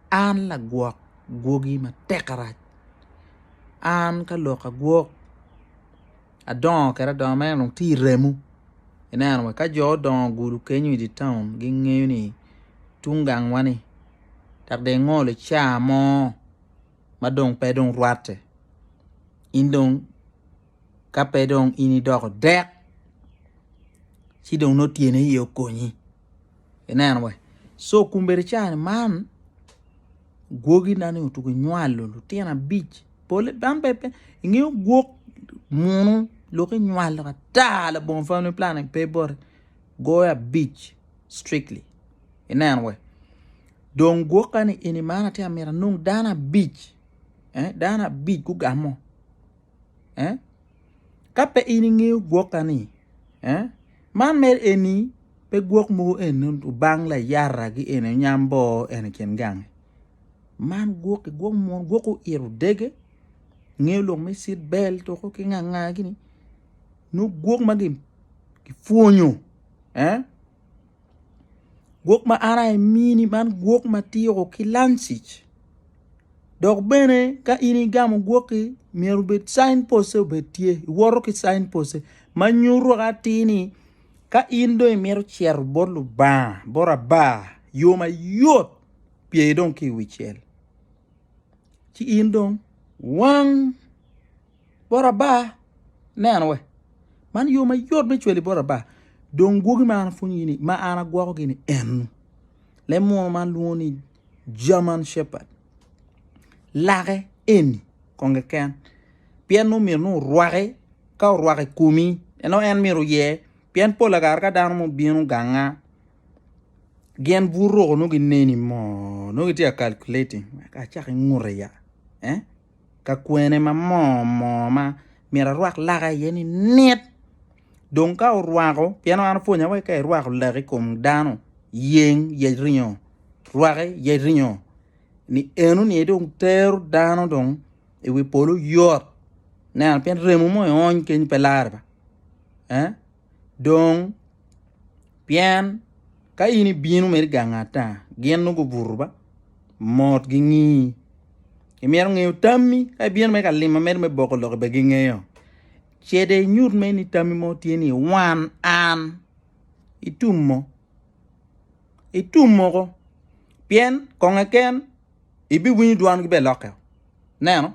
An lagwok gwogi matek arac, an ka lok agwok adongo kede adonga ma en dong tye i remo, ineno wa ka jo odongo gudo kenyo i dye taun gingeyo ni tung gangwa ni dok dong ingolo caa mo ma dong pe dong rwatte in dong ka pe dong in idoko dek ci dong nongo tyene aye okonyi. Ineno we? Co kumbedi cani man gwogi na ni otugo nywalo lutino abic pole dan pe pe ingeyo gwok munu lok inywalo ata labongo family planning pe boti goyo abic strictly ineno we dong gwoka ni eni man atye amito anong dano abic eh dano abic gugamo eh Ka pe in ingeyo gwokkani, man mere eni pe gwok mogo eni obang layara ki eni onyam bor eni i kin gangi man gwoki gwok munu gwok oito dege ngeyo lok me cit bel tuku ki nganga gini nongo gwok ma kipwonyo Gwok ma an aye amini man gwok ma tyeko ki lancic dok bene ka in igamo gwok-ki myero obed cain poste obed tye iwoto ki cain poste ma nyuto wek atir ni ka in dong imito cito bot Lubanga bot aba yo mayot pye dong ki i wi cel ci in dong wang bot aba. Neno we, man yo mayot me cweli bot aba. Dong gwogi ma an apwonyogi ni ma an agwokogi ni enu. Leb muno man lwongo ni German Shepherd. Lake eni kong keken pien nongo myero nongo orwake ka orwake i komi en nongo en myero oye pien pol kare ka dano mo bino ganga gin buto roko nongo gineni moo nongo gitye ka calculating wek acak ingute ya. ka kwene ma moo moo ma myero arwak laka iye ni nit dong ka orwako pien an opwonya wai ka irwako lak ikom dano yeng yec ringo rwaki yec ringo ni eno ni aye dong tero dano dong iwi polo yot neno pien remo mo iony keny pe lare ba. dong pien ka in ibino mere i gang ata gin nongo gubuto ba mot gingi imito ngeyo tammi ka ibino mere ka lima mere me boko lok bene gingeyo ce dong inyut mere ni tammi mo tye ni wan an itumo itumo ko pien konge ken ibiwinyo dwongi bene lokke o neno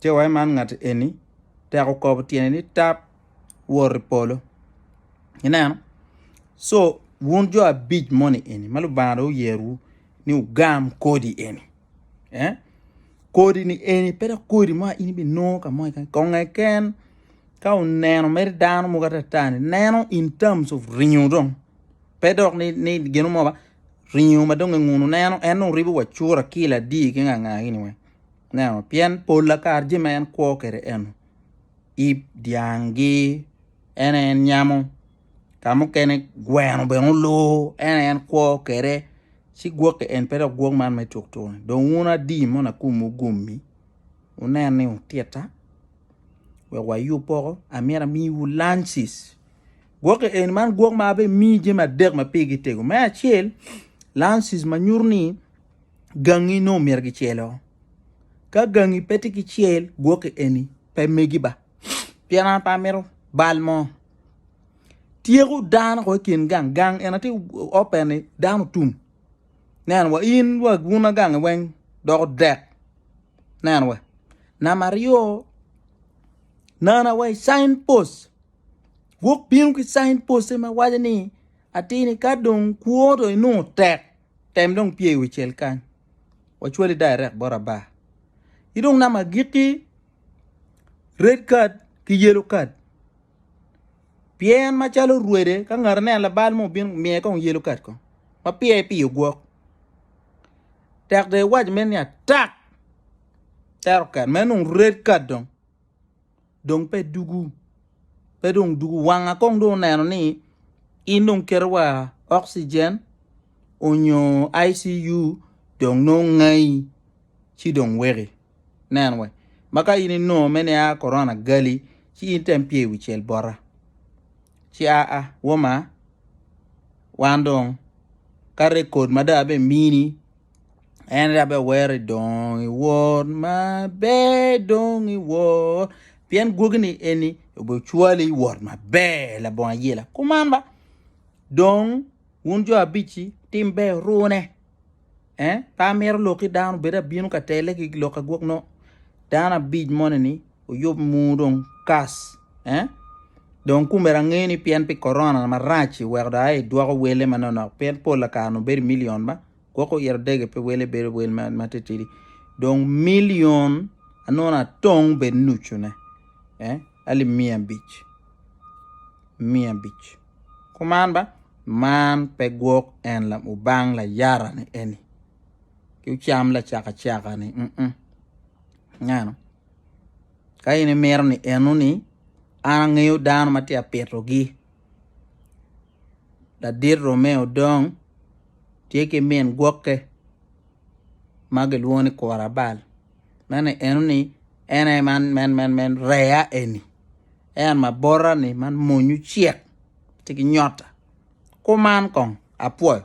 Ce wa i man ngat eni tek okobo tyene ni tap wot i polo. Ineno? So, wun jo abic moni eni ma Lubanga dong oyerowu ni wugam kodi eni. Eh? Kodi ni eni pe dok kodi mo in ibinongo ka mo keken. Konge ken ka oneno mere dano mo kata tani neno in terms of ringo dong. Pe dok ni, ni gino mo ba ringo ma dong enguno neno en dong ribo wa cura kila di ki nganga ini weng. Ineno? Pien pol lakar jami ma en kwo kwede eno, ip dyangi, en aye en nyamo, ka mukene gweno bene oloo, en aye en kwo kwede, ci gwoki en pe dok gwok man me cukcuk-ki. Dong wun adi mono akumwu gommi, wunen ni wutitta wek wayub poko, amyero amiwu lunches. Gwoki eni, man gwok ma abimiyi jami adek ma pigi tego. Me acel, lunches ma nyuto ni. gangi nongo myero gicelo. Ka gangi pe tye ki cel gwoki eni pe megi ba pien an pe amito bal mo. Tyeko dano ko i kin gang, gang eni aye open ni dano otum nen wa in wa bun agangi weng doko dek nen wa. Namba aryo nana wa i cin post gwok bino ki cin post ma waco ni atini ka dong kwo dong inongo tek. Tem dong pye i wi cel kany, wacwali dairek bot aba. Ci dong namba agikki, red card ki yellow card. Pye en macalo rwede ka ngat aneno labal mo obino miye kong yellow card kong ma pye piyo gwok. Tek dong iwac mere ni atak tero ket meno dong red card dong. dong pe dugu pe dong dugu wanga kong dong oneno ni in dong keto wa oxygen onyo ICU dong nongo ngai ci dong weki nen we ma ka in inongo me nia korona gali ci in tem pye iwi cel bota ci aa woma wan dong ka rekod ma dong abimini En aye abbe wero idong iwor ma ber dong iwor pien gwogi ni eni obe cwali iwor ma ber labongo ayela kuman ba dong wun jo abici tim ber rune eh pe amiro lok ki dano bed abino ka tele ki lok agwok no dano abic moni ni oyub mu dong kas eh dong kumera angeyo ni pien pi korona marac weko dong aye idwoko wele manonok pien pol lakara nongo bedo i milion ba. Gwok oyito dege pe wele bedo wel ma titidi dong milion anona tong bed nucune eh ali mia abic mia abic kuman ba man pe gwok en la ubang la yara ni eni ki ucam la caka caka ni mm -mm. ngano ka in imito ni eno ni an angeyo dano ma tye apito gi ladit Romeo dong tye ki min gwokke ma gilwongo ni kura bal meno eno ni en aye man rea eni en mabota ni man mony ocek tye ki nyota kuman kong apwoyo.